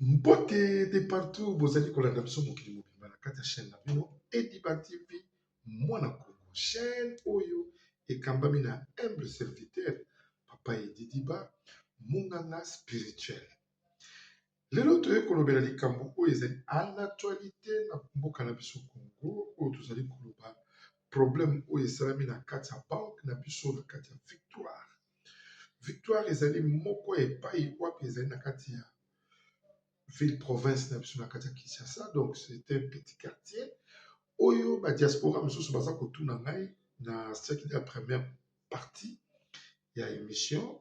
mbote de partout bozali kolanda biso mokili mobimba na kati ya chaîne na bino ediba tv mwana kongo chaîne oyo ekambami na humble serviteur papa edidiba monganga spirituel Lelo toye kolobela likambo oyo ezali a l'actualite na mboka na biso Congo oyo tozali koloba problème oyo esalami na kati ya banque na biso na kati ya victoire. Victoire ezali moko ya epai wapi ezali na kati ya ville province na biso na kati ya Kinshasa donc c'est un petit quartier oyo ba diaspora mosusu baza kotuna ngai na siècle ya première partie ya emission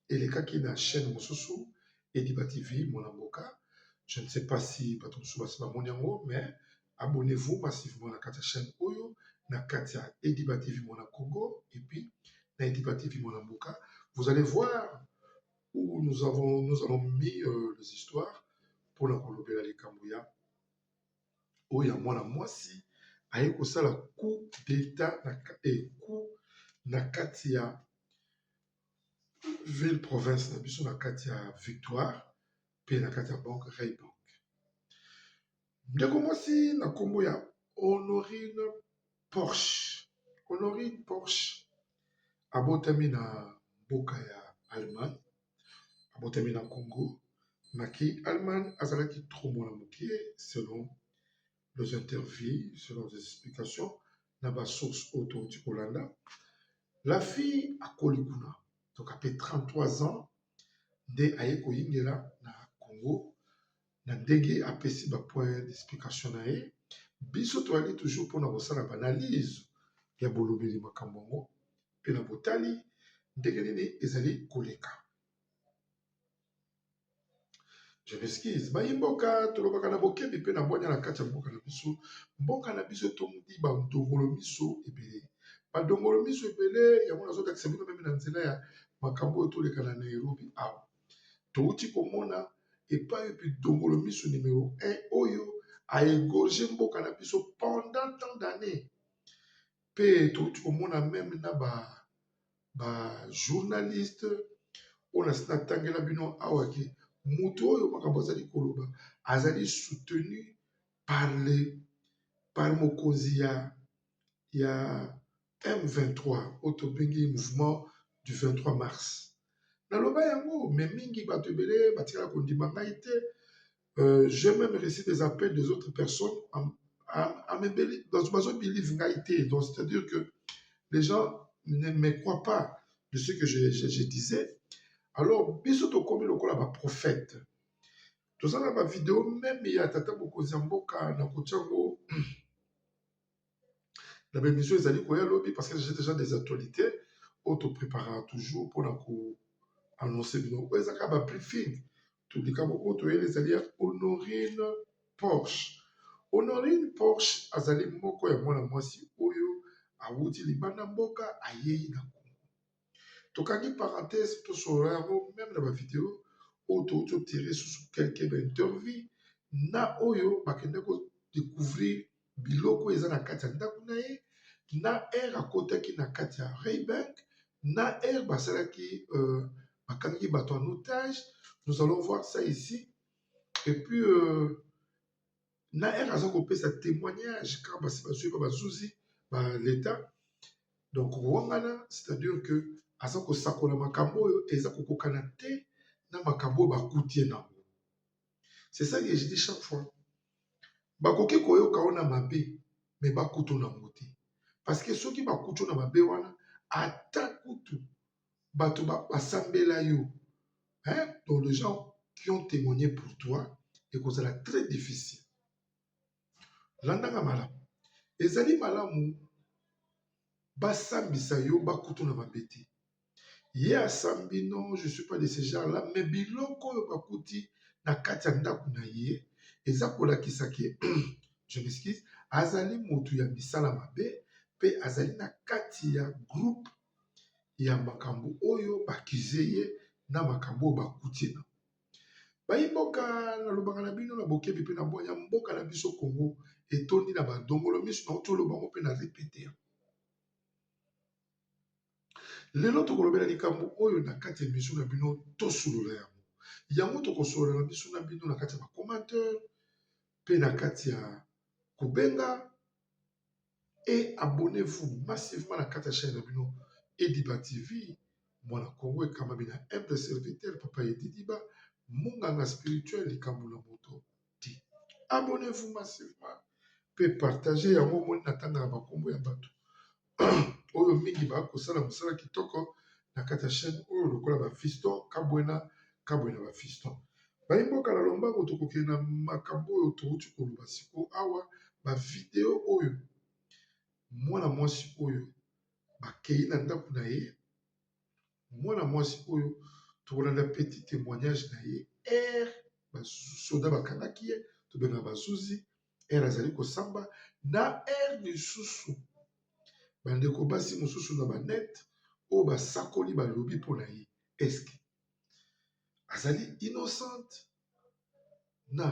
elekaki na chaine mosusu ediba tv mwana mboka je ne sais pas si bato mosusu basi bamoni yango mais abonnez vous massivement na kati ya chaine oyo na kati ya ediba tv mwana congo et puis na ediba tv mwana mboka vous allez voir où nous avons nous avons mis euh, les histoires mpona kolobela likambo ya oyo ya mwana mwasi aye kosala coup d'etat na kati ya ville province na biso na kati ya victoire pe na kati ya bank Reebok ndeko mwasi na nkombo ya Honorine Porsche Honorine Porsche abotami na mboka ya Allemagne. abotami na Congo maki Allemagne azalaki trop mwana moke selon les interviews selon les explications na ba source oyo touti kolanda la fille akoli kuna donc apres 33 ans nde aye koyingela na Congo na ndenge apesi ba point d'explication na ye biso toyali toujours mpona kosala ba analyse ya bolobeli makambo yango mpe na botali ndenge nini ezali koleka. Je m'excuse, bayi mboka tolobaka na bokebi mpe na bwanya na kati ya mboka na biso. Mboka na biso etondi ba dongolo miso ebele, ba dongolo miso ebele yango nazolakisa bino meme na nzela ya makambo oyo toleka na Nairobi awa touti komona epai epi dongolo miso numero 1 oyo a egorge mboka na biso pendant tant d'années pe touti komona meme na ba ba journaliste oyo nasi natangela bino awa ke moto oyo makambo azali koloba azali soutenu par le par mokonzi ya ya M23 oyo tobengi mouvement du 23 mars naloba yango me mingi bato ebele batikala kondima ngai te Euh, j'ai même reçu des appels des autres personnes en, en, en me believe ngai te. Donc, c'est-à-dire que les gens ne me croient pas de ce que je, je, je disais. Alors, biso tokomi lokola ba prophète. Tozala ba vidéo même ya tata mokonzi ya mboka na kotia ngo na ba emission ezali koya lobi parce que j'ai déjà des actualités oyo to préparaka toujours mpona ko annonce bino oyo eza kaka ba briefing to likambo oyo toyeli ezali ya honorine porsche honorine porsche azali moko ya mwana mwasi oyo awuti libanda mboka ayei na congo tokangi parenthèse tosolola yango meme na bavideo oyo touti otire susu quelque baintervie na oyo bakende kodécouvrir biloko eza na kati ya ndako na ye na aire akotaki na kati ya raybank na aire basalaki euh, bakangaki bato en otage nous allons voir ça ici et puis euh, na ere aza kopesa temoignage ka basi bazwi ba bazuzi ba leta donc kowangana c'est-à-dire que aza kosakola makambo oyo eza kokokana te na makambo oyo bakutie na yango c'est ça que je dis chaque fois bakoki koyoka ona mabe me bakutu na yango te parce que soki bakutu na mabe wana ata kutu bato basambela yo hein? donc les gens qui ont témoigné pour toi ekozala très difficile landanga malamu ezali malamu basambisa yo bakutu na mabe te ye asambi non je suis pas de ce genre là mais biloko oyo bakuti na kati ya ndako na ye eza kolakisa ke je m'excuse azali moto ya misala mabe mpe azali na kati ya groupe ya makambo oyo ba accuser ye na makambo oyo ba kuti ye nango. Bayi mboka na lobaka na bino na bokebi pe na bwanya mboka na biso Congo etondi na ba dongolo misu na wuti oloba ngo pe na repeter yango. Lelo toko lobela likambo oyo na kati ya emission na bino to solola yango. Yango toko solola na biso na bino na kati ya ba commentaires pe na kati ya ko benga et abonnez-vous massivement na kati ya chaîne na bino Ediba TV mwana Kongo ekambami na humble serviteur papa Ediba munganga spirituel likambo na moto ti abonnez-vous massivement pe partager yango omoni na tanga na bakombo ya bato oyo mingi bakosala mosala kitoko na kati ya chaîne oyo lokola ba fiston kabwena kabwena ba fiston bayi mboka na lombango tokokende na makambo oyo touti koloba siko awa ba video oyo mwana mwasi oyo bakei na ndako na ye mwana mwasi oyo tokolanda petit témoignage na ye ere basoda bakangaki ye tobengaka bazuzi ere azali kosamba na ere misusu bandeko basi mosusu na banete oyo basakoli balobi mpo na ye eske azali innocente na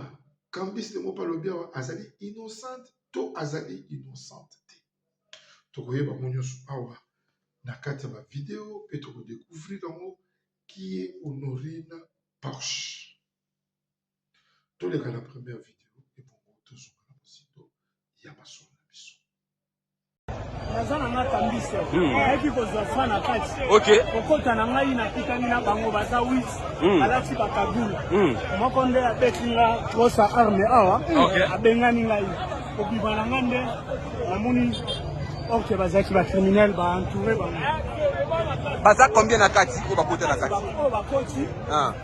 kambis de mopa alobi awa azali innocente to azali innocente te tokoyeba yango nyonso awa na kati ya bavideo mpe tokodecouvrir yango kie honorine porche toleka na première video ebongo tozonga na mosito ya masolo na biso naza na nga kambiso hmm. ayaki kozwa fra na kati kokota na ngai nakutani na bango baza wit hmm. alati bakagula hmm. moko nde abeti nga kosa arme awa abengani ngai kobima na nga nde namoni orke bazalaki bacriminel baentoure bango baza combien na kati oyo bakota na kati oyo bakoti ah.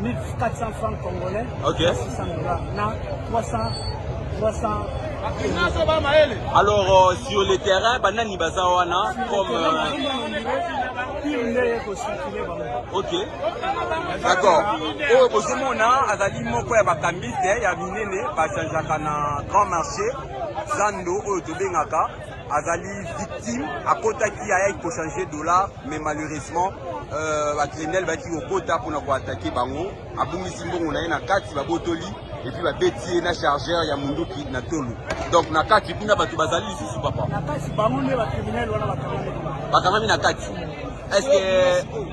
1400 francs congolais okay. 600 dollars na 300 300 alors euh, sur le terrain banani baza wana comme euh, ok d'accord oyo bozomona azali moko ya bakambiste ya minene bachangeaka na grand marché zando oyo tobengaka azali victime akotaki ayaki kochange dollar mais malheureusement euh, bacriminel bayaki kokota mpona koatake bango abungisi mbongo na ye na kati babotoli epuis babeti ye na chargeur ya munduki na tolo donc na kati kuna bato bazali lisusu papa bakangami na kati est ce que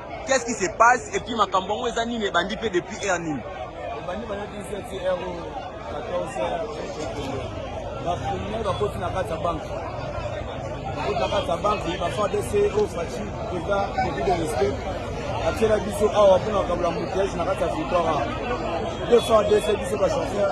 Qu'est-ce qui se passe et puis makambo yango eza nini ebandi pe depuis heure nini? Ebandi bana 17 heure 14 heure ba premier ba koti na kati ya banque bakoti na kati ya banque ba fa DC au Fatshi eza depuis de respect atiela biso awa mpona kabula moutege na kati ya victoire de fa DC biso ba chauffeur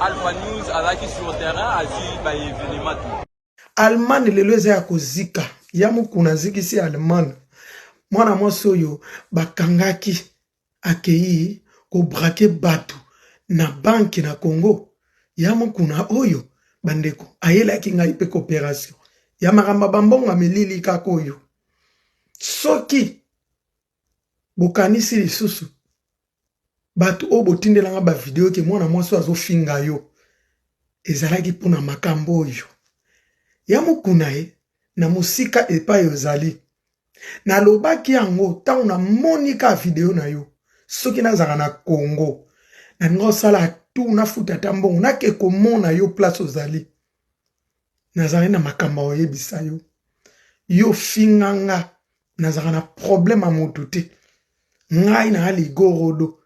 Alpha News alaki sur terrain azwi ba evenement tout. Allemagne lelo eza ya kozika ya mokuna azikisi Allemagne. Mwana mwasi oyo bakangaki akeyi kobrake bato na banki na Congo ya mokuna oyo bandeko ayelaki ngai mpe cooperation ya makambo bambongo amelili kaka oyo soki bokanisi lisusu bato oyo botindelanga bavideo ke mwana mwasi oyo azofinga yo ezalaki mpo na makambo oyo ya mokuna ye na mosika epai ozali nalobaki yango ntango namoni ka video na yo soki nazala na kongo nalinga osala tu nafuta ata mbongo nake komona yo place ozali nazali na makambo ya koyebisa yo yo finga nga nazalaka na problème ya motu te ngai na ligorodo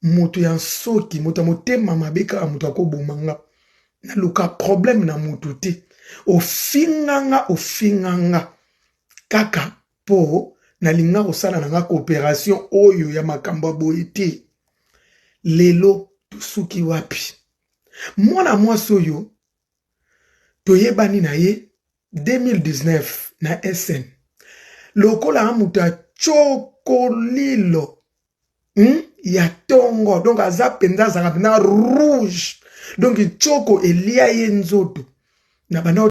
moto ya nsoki moto ya motema mabe kaka moto akoboma nga naluka problème na motu te ofinga nga ofinga nga kaka mpo nalinga kosala na nga cooperation oyo ya makambo ya boye te lelo tosuki wapi mwana mwasi oyo toyebani na ye 2019 na sn lokola moto ya cokolilo hmm? ya tongo donc aza mpenza azalaka mpenza rouge donc ncoko elia ye nzoto na banda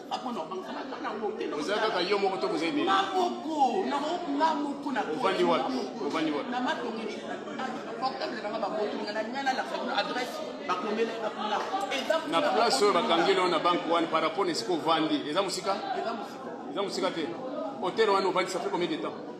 oza kaka yo moko to boza ebele ovandi wapi ovandi wapi na place oyo bakangeli yo na banke wana par rapport na esika ovandi eza mosika eza mosika te hotel wana ovandisa mpe combien de temps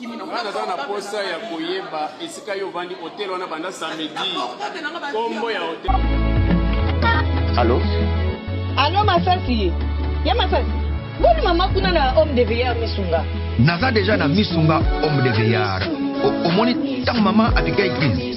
nga naza na posa ya koyeba esika yo ovandi hotel wana banda samedi kombo ya hotel alo alo masasi ya masasi boni mama kuna na homme de veilleur misunga naza deja na misunga homme de veilleur omoni ntango mama abigail green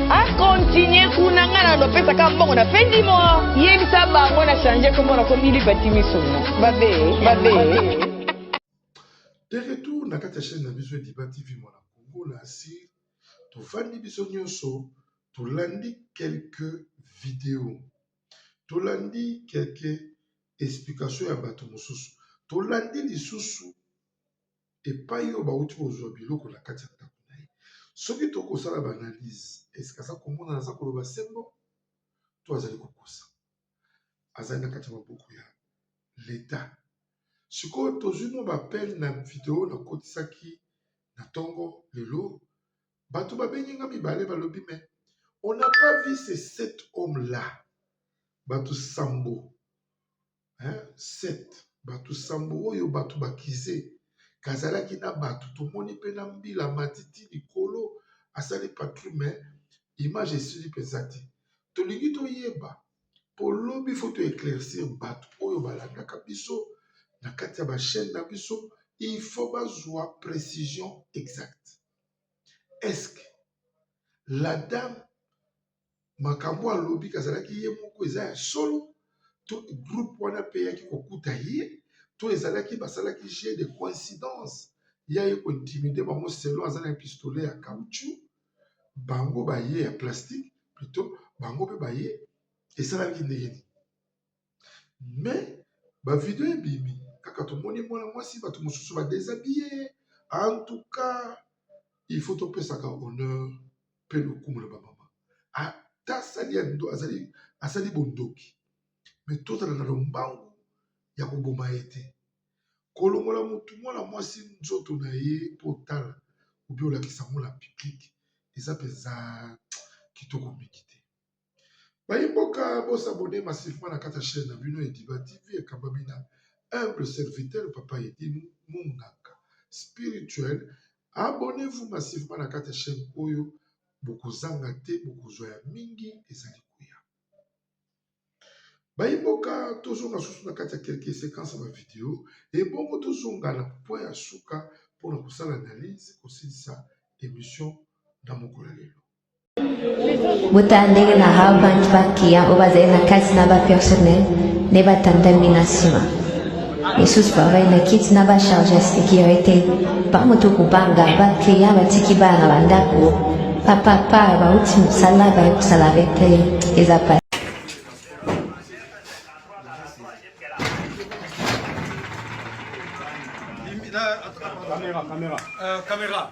A continuer kuna nga na lopesa ka mbongo na fin du mois. Yebisa bango na changer kombo na komi Liberty Misuna. Babe, babe. De retour na kati ya chaîne na biso Liba TV mwana Congo na asile tofandi biso nyonso tolandi quelques videos tolandi quelques explications ya bato mosusu tolandi lisusu epai oyo bauti kozwa biloko na kati ya ndako na ye. Soki to kosala ba analyse eske aza komona aza koloba sembo to azali kokosa azali na kati ya maboko ya leta. Sikoyo tozwi mwa bapele na video nakotisaki na ntongo lelo, bato babengi nga mibale balobi me on n'a pas vu ces sept hommes là bato sambo 7 bato nsambo oyo bato bakize kazalaki na bato tomoni mpe na mbila matiti likolo asali patru me image esili mpenza te tolingi toyeba mpo lobi fo to eclaircir bato oyo balandaka biso na kati ya bachaine na biso il faut bazwa précision exacte est ce que la dame makambo alobi kazalaki ye moko eza ya solo to groupe wana pe eyaki kokuta ye to ezalaki basalaki jeu de coïncidence ya ye ko intimide bango selon aza na pistolet ya caoutchou bango baye ya plastique plutot bango pe baye esalaki ndenge nini. mais ba video ebimi kaka tomoni mwana mwasi bato mosusu badesabiye en tout cas il faut topesaka honneur mpe lokumu na bamama ata asali ya ndo azali asali bondoki me tozala na lombangu ya koboma ye te kolongola motu mwana mwasi nzoto na ye mpo otala obi olakisa yango na piblike eza mpenza kitoko mingi te bayi mboka bo s'abonner massivement na kati ya chaîne na bino Ediba TV ekambami na humble serviteur papa Edi Munganga spirituel abonnez-vous massivement na kati ya chaîne oyo bokozanga te bokozwa ya mingi ezali koya bayi mboka tozonga susu na kati ya quelques séquences ya bavideo ebongo tozonga na point ya suka mpo na kosala analyse kosilisa émission na mokolo ya lelo botala ndenge na harvard bacliyan oyo bazali na kati na bapersonnel nde batandami na nsima misusu bavai na kiti na bacharge ya securité bamoto kobanga bacliyan batiki bana na bandako bapapa bauti mosala baye kosala bete eza pa Caméra, caméra. Euh, caméra.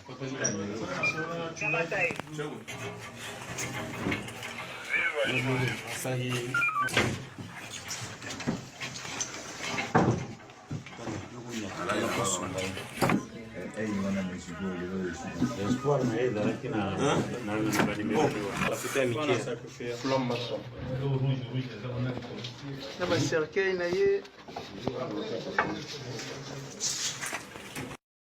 Espoir na ye ezalaki na banimero na bacercueil na ye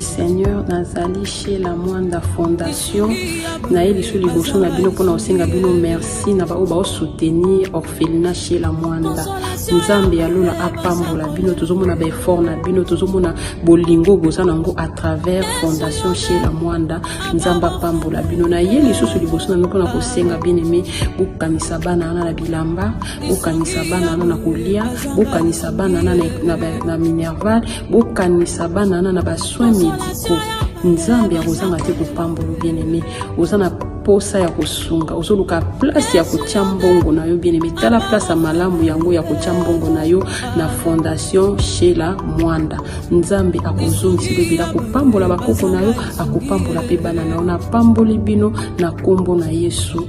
seigneur nazali chez la mwanda fondation naye lisu liboso na bino mpona kosenga bino merci na baoyo baosoutenir orphelina chez la mwanda nzambe ya lola apambola bino tozomona baeffort na bino tozomona bolingo boza na yango à travers fondation chez la mwanda nzambe apambola bino naye lisusu liboso na bino mpona kosenga bien aime bokanisa bana wana na bilamba bokanisa bana wana na kolia bokanisa bana wana na minerval bokanisa bana wana na basoin médicaux nzambe akozanga te kopambola bien aimé oza na posa ya kosunga ozoluka place ya kotya mbongo na yo bien aimé tala place ya malamu yango ya kotya mbongo na yo na fondation shela mwanda nzambe akozongisa lobela akopambola bakoko na yo akopambola mpe bana na yo napamboli bino na nkombo na yesu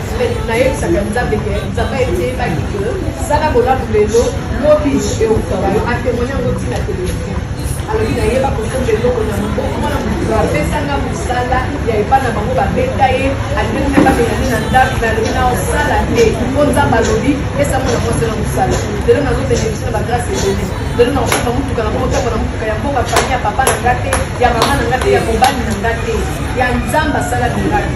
nayebisaka nzambe ke nzambe ayebaki ke sala bolamu lelo lobi eutaka yo atemoine yango ntina televizio alobi nayeba kosomba eloko na maboko mwana moto apesanga mosala ya epa na bango babeta ye alingi mpe babengani na ndako me alobi na osala te mpo nzambe alobi pesa mwana mwasi na mosala lelo nazobende biso na bagrase ebele lelo na osomba motuka na motambo na motuka ya mboka fami ya papa na nga te ya mama na nga te ya mobali na nga te ya nzambe asala miraki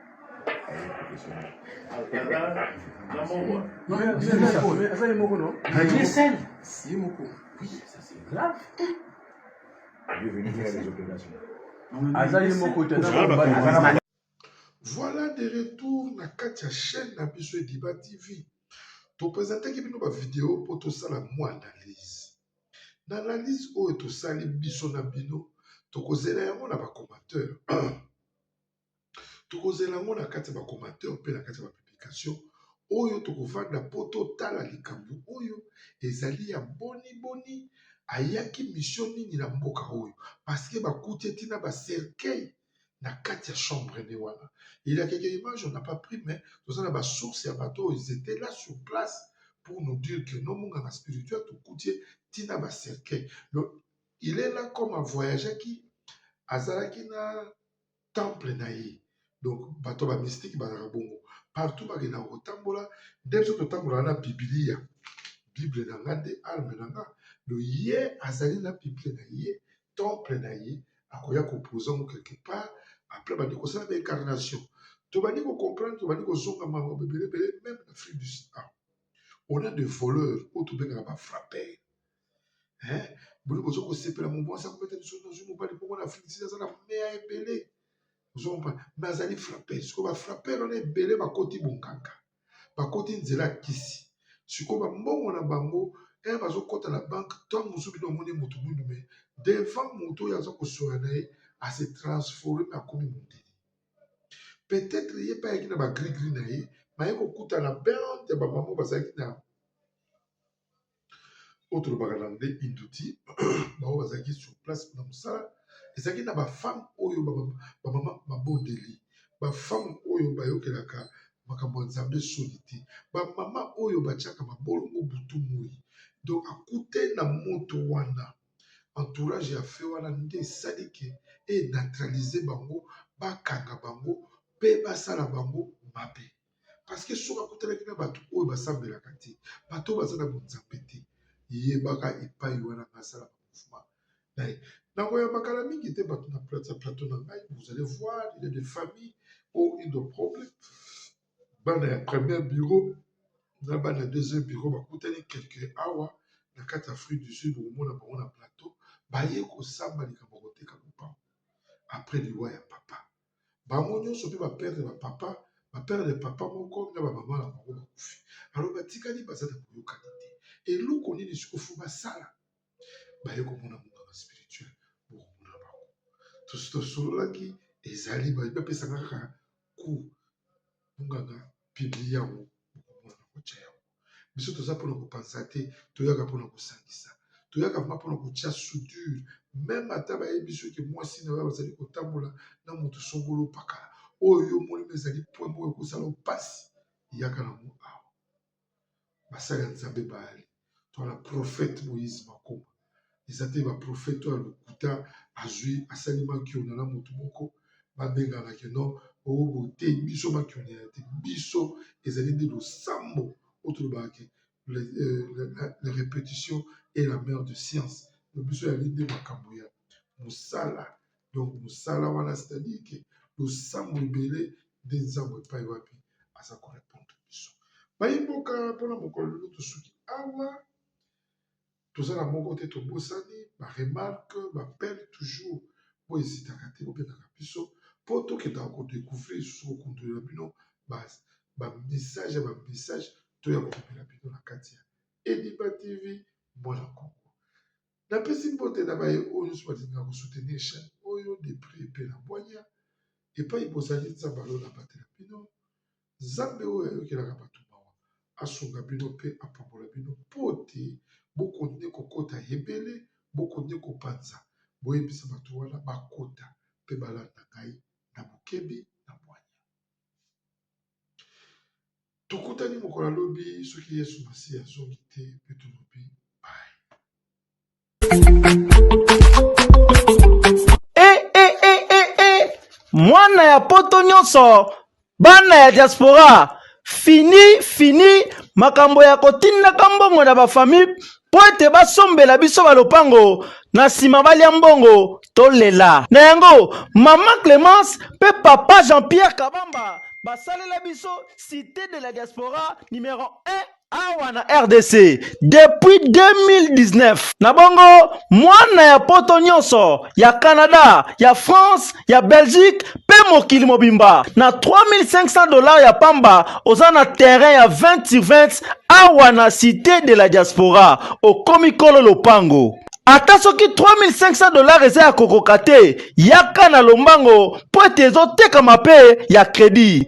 Voilà de retour na kati ya chaîne na biso Ediba TV. Topresentaki bino ba video mpo tosala mwa analyse. Na analyse oyo tosali biso na bino tokozela yango na ba commentaire. tokozela yango na kati ya bacomateur mpe na kati ya bapublication oyo tokovanda mpo totala likambo oyo ezali ya boni boni ayaki misio nini na mboka oyo parceke bakuti etina bacercueil na kati ya chambre nde wana elakeke image on n'a pas pris mais toza na basource ya bato oyo ils étaient là sur place pour nous dire que no monganga spirituel tokuti ye ntina ba cercueil donc il est là comme avoyageaki azalaki na temple na ye donc bato ba mystique bazalaka bongo partout bakendaka kotambola nde biso totambolaka na bibilia bible na nga nde arme na nga do ye azali na bible na ye temple na ye akoya kopoza ngo quelque part après bandi kosala ba incarnation tobandi kocomprendre tobandi kozonga makambo ebele ebele meme na afrique du sud on a de voleurs oyo tobengaka ba frappeur eh, boni bozo kosepela mobo aza kobeta biso nazwi mobali bongo na afrique sida aza na meya ebele ozompa me azali frappe sikoyo bafrappere wana ebele bakoti bonkanga bakoti nzela ya kisi sikoyo bambongo na bango e eh, bazokɔta na banke ntango mosusu bino omoni moto mwindu me devant moto oyo aza kosoya na ye ase transforme akomi mondele peut-être ye mpe ayaki na bagrigri na ye maye kokutana bande ya bamama bazalaki na oyo tolobaka na anglais induti bango bazalaki sur place na mosala ezalaki na bafemme oyo bamama babondeli bafemme oyo bayokelaka makambo ya nzambe soni te bamama oyo batyaka mabolongo butu moi donc akute na moto wana entourage ya fe wana nde esali ke eneutralize bango bakanga bango mpe basala bango mabe parceke soki akutanaki na bato oyo basambelaka te bato oyo baza na bonzambe te yebaka epai wana basala bamofuma naye nakoyamba kala mingi te bato na plata plateau na ngai vous allez voir il y a des familles ou une de problème bana ya première bureau na bana ya deuxième bureau bakutani quelque awa na kati ya afrique du sud okomona bango na plateau baye kosamba likambo koteka lopango après liwa ya papa bango nyonso mpe ba perdre ba papa ba perdre papa moko na ba mama na bango bakufi alors batikali baza na boyokani te eloko nini siko fo basala baye komona monganga spirituel bokomona bango tosololaki ezali bapesaka kaka cour monganga piblie yango bokomona na kotya yango biso toza mpona kopanza te toyaka mpona kosangisa toyaka vrma mpona kotya soudure meme ata bayebi soki mwasi na oyo bazali kotambola na moto songolo pakala oyo yo omoni ma ezali pwe moko ekozala mpasi eyaka na mo awa basali ya nzambe bayali twana profete moïse makoma eza te ba prophète ya lokuta azwi asali makiona na motu moko babengana ke non oyo bote biso makiona ya te biso ezali nde losambo oyo tolobaka ke la euh, répétition est la mère de science na biso yali nde makambo ya mosala donc mosala wana c'est-à-dire ke losambo ebele nde nzambo epai wapi aza korepondre biso bayi mboka mpona mokolo lelo tosuki awa toza na moko te tobosani ba remarque ba pele toujours po ezitaka te bobengaka biso po tokendaka ko decouvrir lisusu kokundwela bino ba message ya ba message to ya komemela bino na kati ya Ediba TV mwana kongo napesi mbote na baye oyo nyonso balingaka kosoutenir chaîne oyo de prix epe na bwanya epai bozali nzambe alona batela bino Nzambe oyo ayokelaka bato mawa asunga bino mpe apambola bino mpo te bokonde kokota ebele, bokonde kopanza. Boyebisa bato wana bakota mpe balanda ngai na bokebi na bwanya. Tokutani mokolo ya lobi soki Yesu Masiya azongi te mpe tolobi Eh, eh, eh, eh, eh. mwana ya poto nyonso bana ya diaspora fini fini makambo ya kotindaka mbongo na bafamille mpo ete basombela biso balopango na nsima balya mbongo tolela na yango mama clemence mpe papa jean-pierre kabamba basalela biso cité de la diaspora numero 1 awa na rdc depuis 2019 na bongo mwana ya poto nyonso ya canada ya france ya belgique mpe mokili mobimba na 3500 dollars ya pamba oza na terrain ya 20 sur 20 awa na cité de la diaspora okomi kolo lopango ata soki 3500 dollars eza ya kokoka te yaka na lombango mpo ete ezotekama mpe ya credit